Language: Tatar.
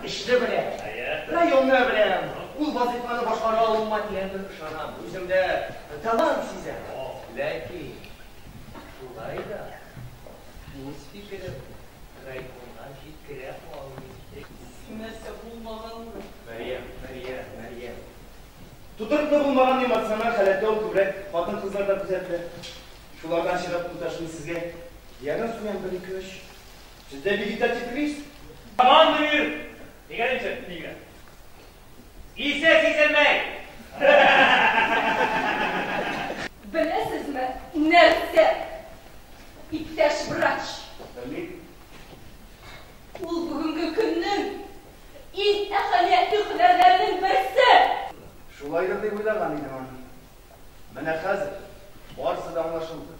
Эшне беләм. Районны беләм. Ул вазыйфаны башкара алуыма тирәнтен ышанам. Үземдә талант сизәм. Ләкин шулай да үз фикеремне райкомга җиткерә алмыйм. Син нәрсә булмаганмы? Мәрьям, Мәрьям, Мәрьям. Тотрыклы булмаган эмоциональ халәттә ул күбрәк хатын-кызларда күзәтелә. Шулардан чыгып, туташ, мин сезгә янә суям бер-ике-өч. Сездә вегетатив кризис? Таман бирер! Дигән инде, дигән. Исе сизелмәй! Беләсезме, нәрсә, иптәш врач? Белмим. Ул бүгенге көннең иң әһәмиятле һөнәрләренең берсе! Шулайдыр дип уйлаган идем аны. Менә хәзер барысы да аңлашылды.